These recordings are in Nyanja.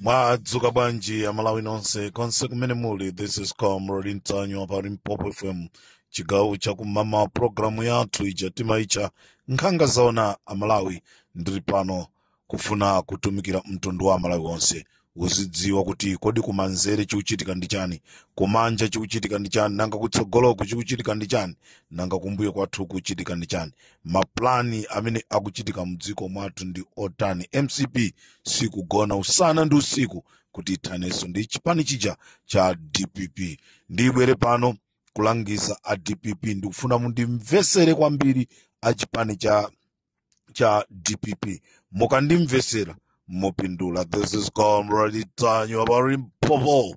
mwadzuka bwanji amalawi nonse konse kumene muli this is comrade ntanyiwa pa limpopo fm chigawo chakummawa programu yathu ija timaitcha nkhanga zaona amalawi ndili pano kufuna kutumikira mtundu wa amalawi onse uzidziwa kuti kodi kumanzere chikuchitika ndi chani kumanja chikuchitika ndi chani nanga kutsogoloku chikuchitika ndi chani nanga kumbuyo kwathu kuchitika ndi chani mapulani amene akuchitika mdziko mwathu ndi otani mcp sikugona usana ndi usiku kuti ithanenso ndi chipani chija cha dpp ndibwere pano kulangiza a dpp ndikufuna mundimvesere kwambiri a chipani cha cha dpp mukandimvesera mupindula this is comrade ntanyiwa pa limpopo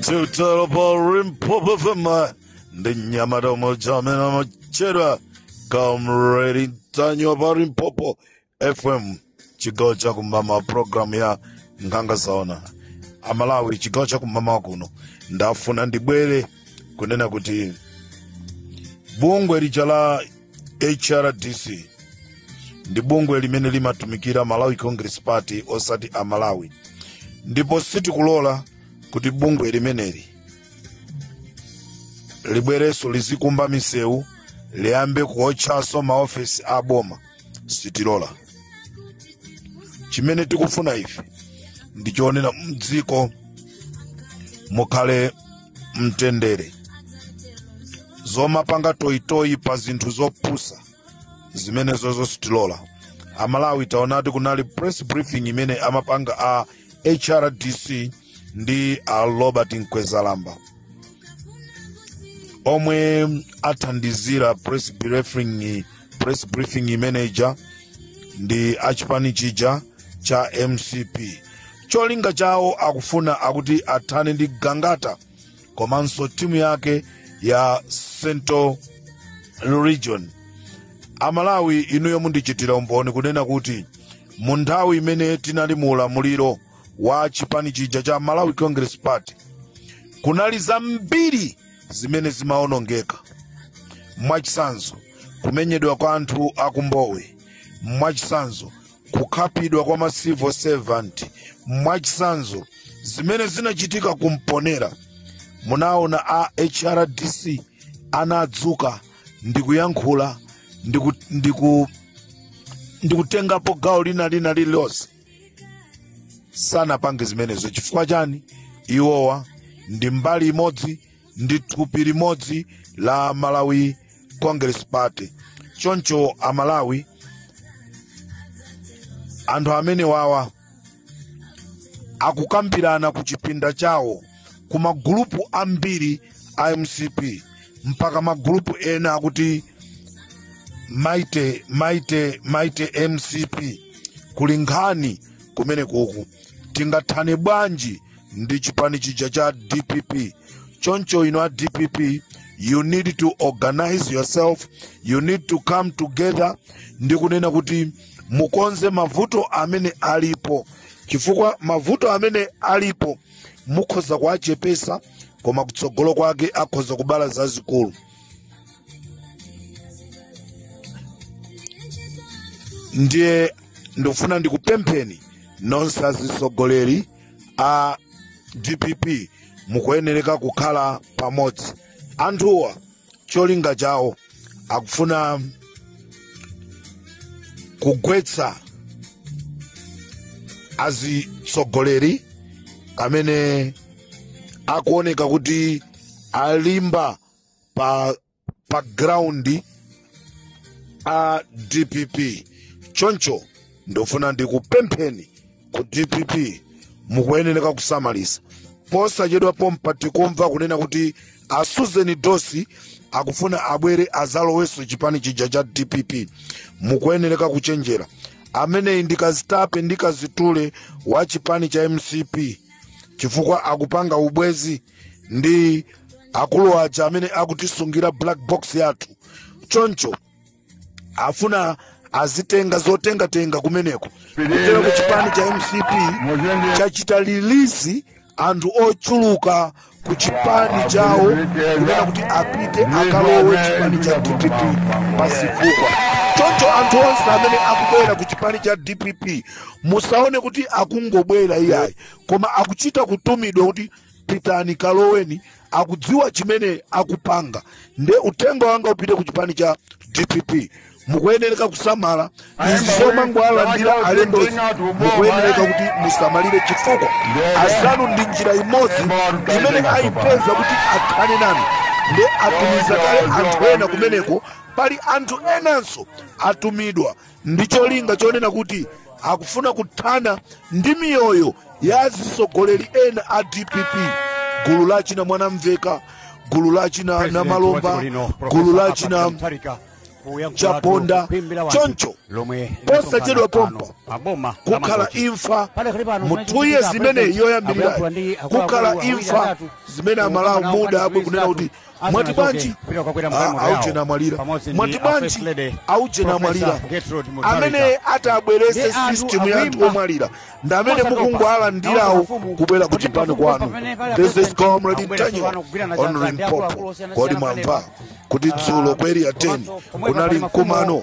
Tutalo pa Limpopo FM ndi mnyamata yemwe uja amene amatchedwa comrade Ntanyiwa pa Limpopo FM chigawo cha kummawa programu ya nkhanga zaona amalawi chigawo cha kummawa kuno ndafuna ndibwere kunena kuti bungwe lija la hrdc ndi bungwe limene limatumikira malawi congress party osati a malawi ndipo sitikulola kuti bungwe limeneli libwerenso lizikumba misewu liyambe kuotchanso maofesi a boma sitilola chimene tikufuna ife ndi choonera mdziko mukhale mtendere zomapanga toyitoyi pa zinthu zopusa zimenezozo sitilola amalawi taona kuti kunali press briefing imene amapanga a hrdc ndi a robert mkwezalamba omwe athandizira press briefing imeneja ndi achipani chija cha mcp cholinga chawo akufuna akuti athane ndi gangata komanso timu yake ya central region amalawi inuyo mundichitira umboni kunena kuti mu nthawi imene tinali mu ulamuliro wa chipani chija cha malawi congress party kunali zambiri zimene zimaonongeka mwachitsanzo kumenyedwa kwa anthu akumbowe mwachitsanzo kukhapidwa kwa ma civil servant mwachitsanzo zimene zinachitika kumponela munaona a hrdc anadzuka ndikuyankhula ndikutengapo gawo lina lina lililonse sanapange zimenezo chifukwa chani iwowa ndi mbali imodzi ndi thupi limodzi la malawi congress party choncho amalawi anthu amene wawa akukambirana ku chipinda chawo ku magulupu ambiri a mcp mpaka magulupu ena akuti mighty mighty mcp kuli nkhani kumenekuku tingathane bwanji ndi chipani chija cha dpp choncho inu a dpp you need to organize yourself you need to come together ndi kunena kuti mukonze mavuto amene alipo chifukwa mavuto amene alipo mukhoza kuwachepesa koma kutsogolo kwake akhoza kubala zazikulu ndiye ndikufuna ndikupempheni nonse azitsogoleri a dpp mukuyenereka kukhala pamodzi anthuwa cholinga chawo akufuna kugwetsa azitsogoleri amene akuoneka kuti alimba pa ground a dpp choncho ndofuna ndikupempheni ku dpp mukuyenereka kusamalisa posachedwa pompa tikumva kunena kuti a susan dossi akufuna abwere azalowenso chipani chija cha dpp mukuyenereka kuchenjera ameneyi ndi kazitape ndi kazitule wa chipani cha mcp chifukwa akupanga ubwenzi ndi akulu aja amene akutisungira black box yathu choncho afuna azitenga zotengatenga kumeneko kudzera ku chipani cha mcp chachita release anthu ochuluka ku chipani chawo kunena kuti apite akalowe chipani cha dpp pazifukwa choncho anthu onse amene akubwera ku chipani cha dpp musaone kuti akungobwera iyayi koma akuchita kutumidwa kuti pitani kaloweni akudziwa chimene akupanga nde uthenga wanga upite ku chipani cha dpp mukuyenereka kusamala izi zomangowalandira alendozi mukuyenereka kuti musamalire chifukwa azanu ndi njira imodzi imene ayipeza kuti athane nanu nde atumiza kale anthu ena kumeneko pali anthu enanso atumidwa ndi cholinga chonena kuti akufuna kuthana ndi miyoyo ya azitsogoleri ena a dpp gulu la china mwanamveka gulu la china namalomba gulu la china chaponda choncho posachedwa pompa kukhala imfa mu two years imene yoyambirira kukhala imfa zimene amalawi mudabwe kunena kuti mwati bwanji aujeni amwalira mwati bwanji aujeni amwalira amene atabweretse system ya anthu omwalira ndi amene mukungowalandirawo kubwera ku chipani kwanu this is comrade ntanyiwa on limpopo kodi mwamva kuti dzulo ku area 10 kunali mkumano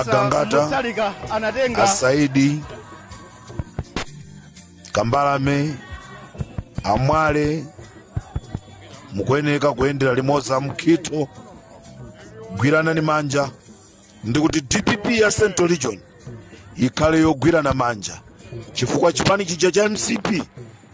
Agangata asaidi kambalame amwale mukuyeneka kuyendera limodzi amkhitho gwiranani manja ndikuti dpp ya central region ikhale yogwirana manja chifukwa chipani chija cha mcp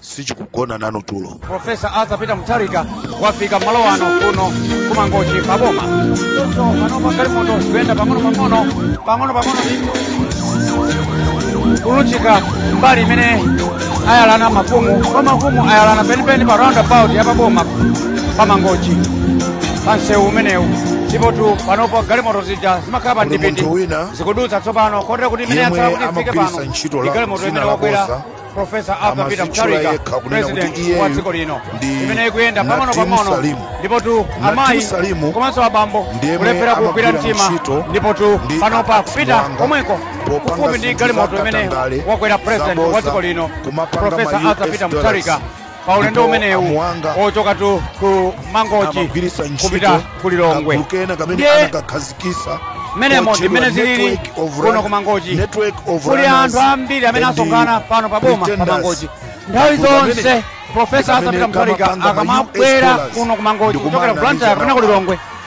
sichikugona nanu tulo profesa arthur peter mutharika wafika malo ano kuno kumangochi paboma choncho panopa galimoto zikuyenda pang'onopang'ono pang'onopang'ono kulunjika mbali imene ayalana mafumu kwa mafumu ayalana penipeni pa roundabout ya paboma pamangochi pa msewu umenewu ndipotu panopo galimoto zija zimakhala pa Kuli mdipiti munthu wina zikudutsa tsopano kotera kuti imene yemwe yatsala kuti ifike amagwiritsa pano ntchito ndi la galimoto dzina imene la wakwera boza Profesa Arthur Peter Amazitchula Mutharika yekha kunena kuti president iyeyu wa dziko lino ndi imene ikuyenda pang'ono Nadim pang'ono Salimu. ndipo tu Nadim amayi Salimu komanso abambo ndi yemwe kulephera kugwira amagwira mtima ntchito ndipo tu ndi panopa Alex kupita Mwango komweko popanga kufupi ndi zinthu galimoto za imene katangale, wakwera president wa zaboza, dziko lino kumapanga Profesa ma Arthur US Peter dollars. Mutharika pa ulendo Ndipo umenewu amuwanga ochoka tu ku mangochi amagwiritsa ntchito kupita ku lilongwe kagulu kena kamene Ndiye anakakhazikisa mmenemo ndi kotchedwa mmene zilili Network of kuno Run- ku mangochi Network of kuli Runners anthu ambiri amene and asonkhana pano pa boma pa Pretenders. mangochi nthawi Kagulu kamene- zonse profesa kamene arthur peter mutharika kamapanga ma US akamabwera dollars kuno ku mangochi ndi kuchokera kumana ku ndi blantyre kapena ku zamawa. lilongwe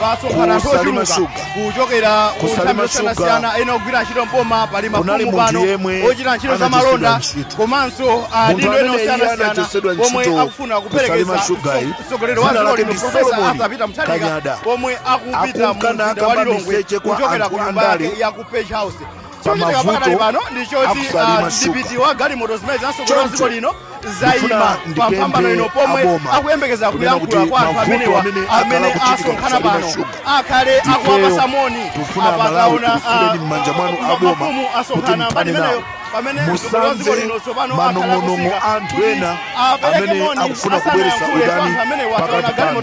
pasonkhana anthu Kusalima ochuluka shuga. kuchokera Kusalima kunthambi shuga. zosiyanasiyana ena ogwira ntchito mboma pali Kunali mafumu munthu pano yemwe ochita ntchito za anachotsedwa malonda ntchito. komanso Munthu adindo ena amene iye osiyanasiyana anachotsedwa omwe ntchito akufuna kusalima kuperekeza shuga iyi, mtsogoleri wa dzina dziko lake lino ndi profesa Solomon arthur peter mutharika Kanyada. pomwe akupita Akunka mu mzinda wa nakamba lilongwe miseche kwa kuchokera anthu ku nyumba andale. yake ya ku page house chochitika pakadali pano ndi choti mdipiti wa galimoto zimene zinatsogola dziko lino zaima pa mphambano ino pomwe akuyembekeza kuyankhula kwa anthu amenewa amene asonkhana pano akhale akuwapasa moni apakaona mafumu asonkhana mbali imeneyo pamene musamve manong'onong'o anthu ena amene akufuna kubweretsa udani pakati panu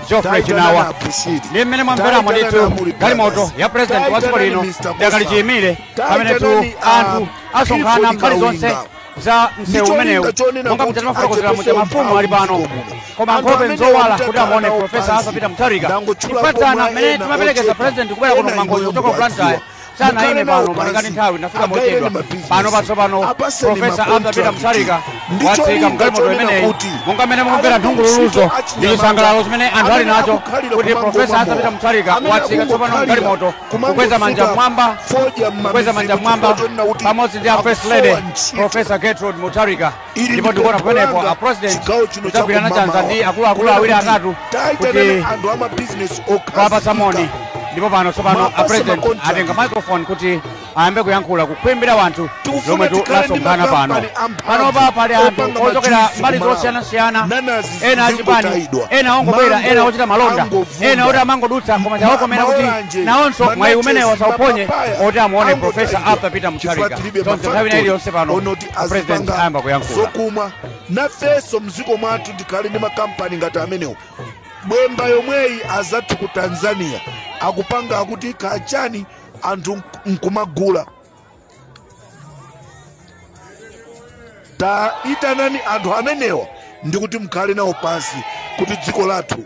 geoffrey chinawa ndi mmene mwamveramo ndithu galimoto ya purezidenti wa dziko lino idakali chiyimire pamenetu anthu asonkhana mbali zonse za msewu umenewu monga muja timafotokozera muja mafumu ali pano koma nkhope nzowala kuti amuone profesa arthur peter mutharika kupatsana mmene timaperekeza purezidenti kubwera kuno ku mangochi kuchoka ku blantyre sanayime pano malinga ndi nthawi anafika mochedwa pano patsopano profesa arthur peter mutharika watsika mgalimoto imeneyi monga mmene mukumvera nthungululuzo ndi chisangalalo chimene anthu ali nacho kuti profesa arthur peter mutharika watsika tsopano mgalimoto kukweza manja mmwamba kukweza manja mmwamba pamodzi ndi a first lady profesa gertrude mutharika Ili ndipo ndi ndikuona pempho pamenepo langa a president chigawo chino cha akugwirana chanza kummawa. ndi akuluakulu Kunena awiri kuti atatu taitanani kuti anthu amabizinesi kuwapatsa moni okhazikika ndipo pano tsopano Mapasa a president makontrakt. atenga microphone kuti ayambe kuyankhula ku khwimbi la anthu Tikufuna lomwe tu- tikhale ndi lasonkhana pano makampani amphamvu panopa pali anthu opanga ochokera majuice mbali ku malawi. zosiyanasiyana Nanazi ena achipani zingotayidwa. ena ongobwera Mango ena ochita malonda angovunda. ena oti amangodutsa koma Ma- chawakomera kuti maoranje, nawonso mwayi mananasi, umenewo asauphonye mapapaya oti amuone angotaidwa. profesa arthur peter Chifukwa mutharika tilibe tonse nthawi ina mafactory iliyonse pano oti President azipanga ayamba kuyankhula. zokumwa nafenso mdziko mwathu tikhale ndi makampani ngati amenewo bwemba yomweyi azathu ku tanzania akupanga akuti kachani anthu nk- nkumagula taitanani anthu amenewa ndikuti mkhale nawo pansi kuti dziko lathu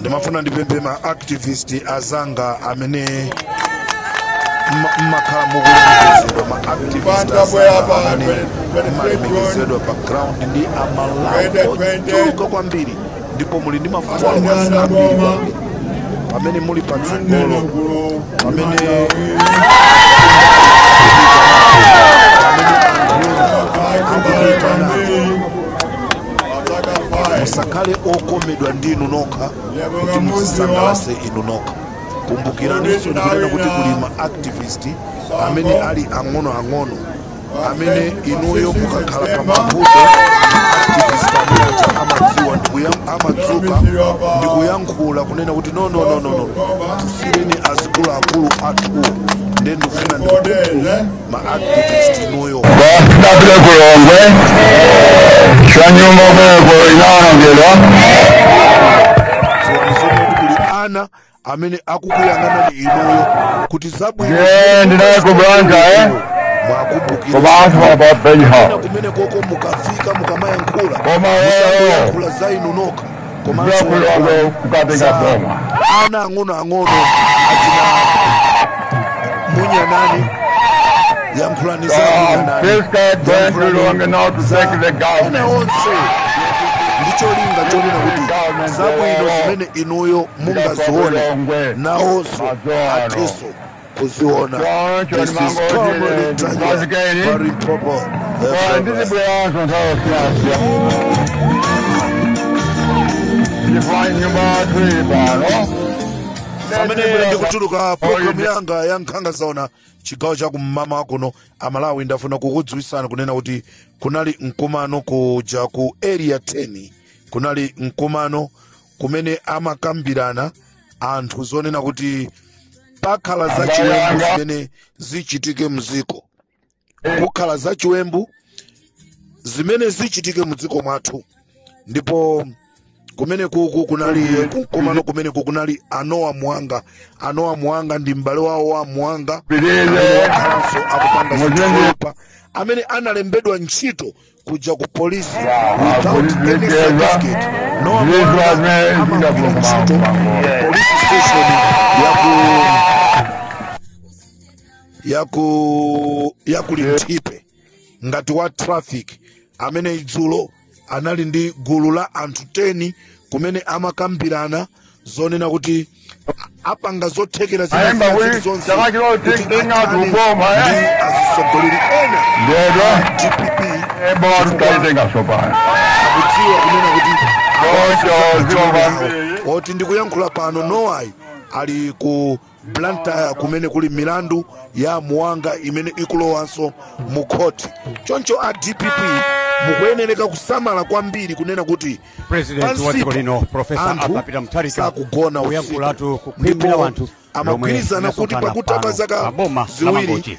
ndimafuna ndipemphe ma activist azanga amene mma- mmakhala mukulemekezedwa ma activist azanga amene mmalemekezedwa pa ground ndi amalawi ochuluka kwambiri ndipo muli ndi mafuso akwasi ambiri kwambiri pamene muli patsogolo pamene musakhale okomedwa ndi inu nokha kuti muzisangalase inu nokha kumbukiraniso ndikunena kuti kuli ma activist amene ali ang'onoang'ono amene inuyo mukakhala pa mavuto activist amene aja amadziwa ndikuya- amadzuka ndikuyankhula kunena kuti no no no no no tisireni azikuluakulu athuwo nde ndikufuna ndikukuku ma activist inuyo Bakitapile ku Lilongwe, Kyanyumba Bwego inaonongera dziwani zomwe kuti kuli ana amene akukuyang'anani inuyo kuti zabwino Ndiye ndinaye ku Blantyre, eh? ku mwakumbukira bantu ena ababenyawo kumene koko mukafika mukamayankhula Koma wewe. musangoyankhula za inu nokha komanso Ndakuyongo kukatenga za boma. ana ang'onoang'ono achina munyanani yankhulani za Um, munyanani this guy Brent Lulonga now to za take the ena government. onse ndicholinga chonena kuti zabwino zimene inuyo mungazione nawonso athenso kuziona This is Comrade Ntanyiwa, pa Limpopo, the driver. ndizibweranso nthawi yosiyanasiyana ndifanye nyumba yathu ili pano pamene ndikutuluka programu yanga ya nkhanga zaona chigawo cha kum'mawa kuno amalawi ndafuna kukudziwitsani kunena kuti kunali mkumano kuja ku area 10 kunali mkumano kumene amakambirana anthu zonena kuti pakhala zachiwembu zimene zichitike mdziko kukhala zachiwembu zimene zichitike mdziko mwathu ndipo kumene kuku kunali kumkumano kumene kuku kunali a Noah mwanga a Noah mwanga ndi m'bale wawo wa mwanga amene wakhalanso akupanga zinthu zoyipa amene analembedwa ntchito kuja ku polisi without any certificate Noah amene amagwira ntchito police station yaku yaku yaku linthipe ngati wa traffic amene idzulo anali ndi gulu la anthu 10 kumene amakambirana zonena kuti apanga zothekera zina Ayamba zina we, zili zonse chaka chino kuti take thing out athane ukoma, eh? ndi atsogoleri ena Ndiyedwa. dpp Ebo atutaitenga sopano. akudziwa kunena kuti Ocho, zero one. oti ndikuyankhula pano nowayi ali ku blantyre kumene kuli milandu ya mwanga imene ikulowanso mu khoti choncho a dpp mukuyenereka kusamala kwambiri kunena kuti president wa dziko pansipo lino profesa anthu arthur peter mutharika sakugona usiku. kuyankhulatu kukhwimira Ndipo wanthu amagwirizana kuti pakutha pa zaka ziwiri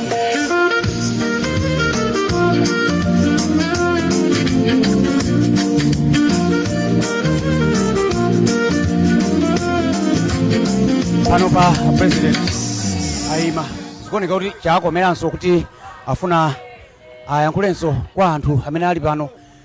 pano pa president ayima zikuoneka kuti chakomeranso kuti afuna ayankhulenso kwa anthu amene ali pano